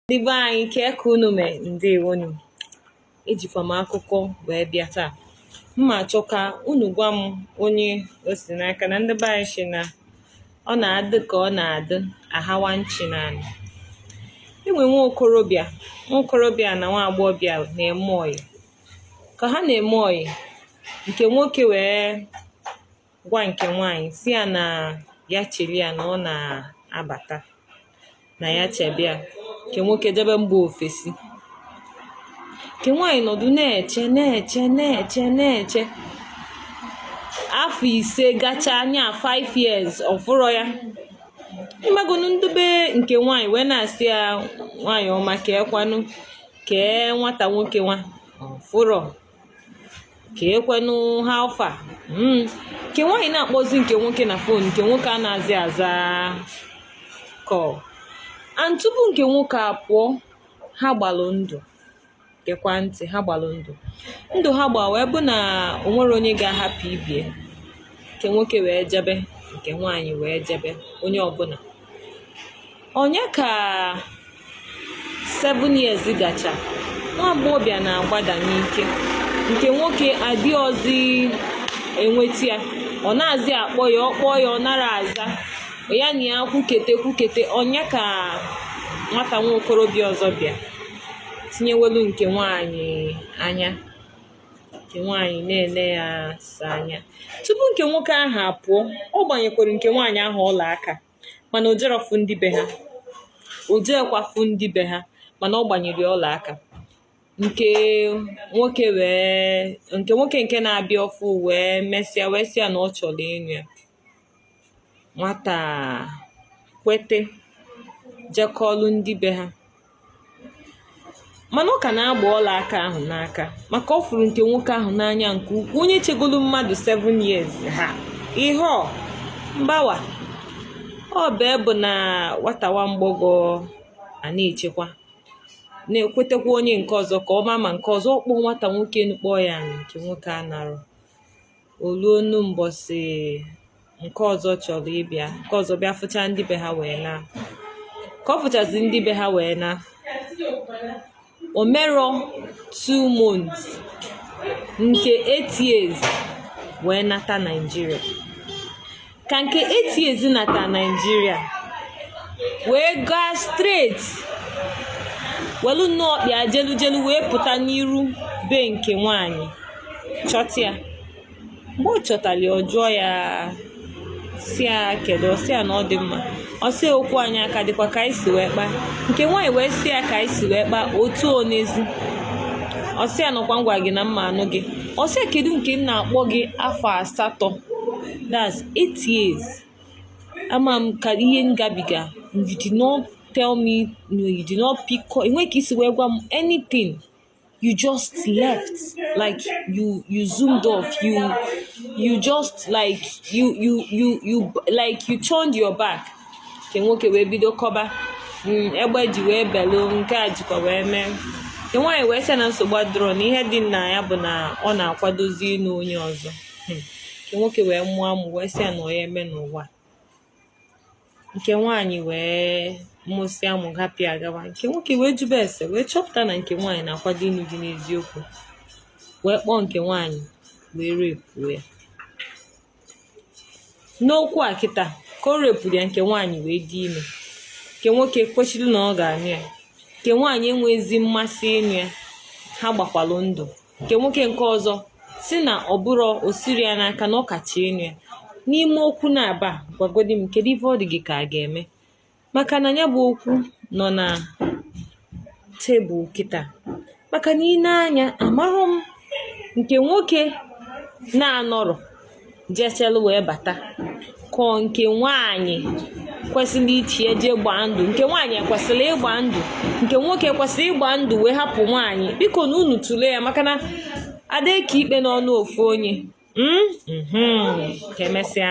ndị be anyị kee ka unu mee ndewonu ejikwa m akụkọ wee bịa taa m na-achọ ka unu gwa m onye o si n'aka na ndị be anyị sị na ọ na-adị ka ọ na-adị ahawa nchi n'anị e nwee nwa okorobịa nwa okorobịa na nwa agbọghọbịa na-eme ọyị ka ha na-eme ọyị nke nwoke wee gwa nke nwaanyị sị ya na ya chere ya na ọ na-abata na ya chebe ya nke nwoke jebe mba ofesi nke nwaanyị nọdụ na-eche na-eche na-eche na-eche afọ ise gachaa anya 5 years ọ fụrọ ya ị magonu ndị be nke nwaanyị wee na-asị ya nwaanyị ọma kee kwanụ kee nwata nwoke nwa fụrọ kee kwenụ how far hmm. nke nwaanyị na-akpọzi nke nwoke na fon nke nwoke anazị aza call and tupu nke nwoke a pụọ ha gbalụ ndụ gekwa ntị ha gbalụ ndụ ndụ ha gba wee bụ na o nwerọ onye ga-ahapụ ibe ya nke nwoke wee jebe nke nwaanyị wee jebe onye ọbụla ọ nya ka 7 years gachaa nwa agbọghọbịa na-agbada n'ike nke nwoke adịrọzi enweta ya ọ nazị akpọ ya ọ kpọọ ya ọ narọ aza ya na ya kwukete kwukete ọ nya ka nwata nwa okorobịa ọzọ bịa tinyewelu nke nwaanyị anya nke nwaanyị na-ele ya asa anya tupu nke nwoke ahụ apụọ ọ gbanyekwara nke nwaanyị ahụ ọla aka mana o jerọ fụ ndị be ha o jekwa fụ ndị be ha mana ọ gbanyere ọla aka nke nwoke wee nke nwoke nke na-abịa ọfụụ wee mesịa wee sị ya na ọ chọrọ ịnụ ya nwata kwete jee kọọlụ ndị be ha mana ọ ka na-agba ọla aka ahụ n'aka maka ọ fụrụ nke nwoke ahụ n'anya nke ukwuu onye chegolu mmadụ 7 years ha ihe ọ mbawa ọ bụ bụ na nwata nwa mgbọghọ a na-echekwa na-ekwetekwa onye nke ọzọ ka ọ ma ma nke ọzọ ọ kpọọ nwata nwoke nụ kpọọ ya nke nwoke anarọ o ruonu mbọsị nke ọzọ chọrọ ịbịa nke ọzọ bịa fụcha ndị be ha wee na ka ọ fụchazi ndị be ha wee na o merọ two months nke eight years wee nata Naịjirịa ka nke eti ezi nata naijiria wee gaa straight welu nnọọ ọkpa ya jelu jelu wee pụta n'iru be nke nwanyị chọta ya mgbe ọ chọtara ya ọ jụọ ya sị ya kedu ọ sị ya na ọ dị mma ọ sị okwu anyị ọ ka dịkwa ka anyị si wee kpaa nke nwaanyị wee sị ya ka anyị si wee kpaa otu onezi ọ sị ya na ọ kwa m gwa gị na m ma-anụ gị ọ sị ya kedu nke m na-akpọ gị afọ asatọ that's eight years ama m ihe m gabiga you did not tell me no you did not pick call enweghị ka i si wee gwa m anything you just left like you you zoomed off you you just like you you you you like you turned your back nke nwoke wee bido kọba mm, egbe ji wee belu nke a jikwa wee mee nke nwaanyị wee sị na nsogbu adịrọ na ihe dị na ya bụ na ọ na-akwadozi ịnụ onye ọzọ hmm. nke nwoke wee mụọ amụ wee sị ya na ọ ya-eme n'ụwa nke nwaanyị wee mụsị amụ hapụ ya gawa nke nwoke wee jube ese wee chọpụta na nke nwaanyị na-akwado ịnụ di n'eziokwu wee kpọọ nke nwaanyị wee rape-uo ya n'okwu a kịta ka o rape-uru ya nke nwaanyị wee dị ime nke nwoke kwechiri na ọ ga-anụ ya nke nwaanyị enweghịzi mmasị ịnụ ya ha gbakwalụ ndụ nke nwoke nke ọzọ sị na ọ bụrụ o siri ya n'aka na ọ ka chọ ịnụ ya n'ime okwu na-aba gwagodi m kedu ife ọ dị gị ka a ga-eme maka na ya bụ okwu nọ na tebụl kịta maka na i nee anya amaghị m nke nwoke na-anọrọ jechalụ wee bata ka ọ nke nwaanyị kwesịrị ichi eje gbaa ndụ nke nwaanyị ekwesịrọ ịgba ndụ nke nwoke kwesịrị ịgba ndụ wee hapụ nwaanyị biko na unu tụlee ya maka na a da-eke ikpe n'ọnụ ofu onye hmm? mhm. ka emesịa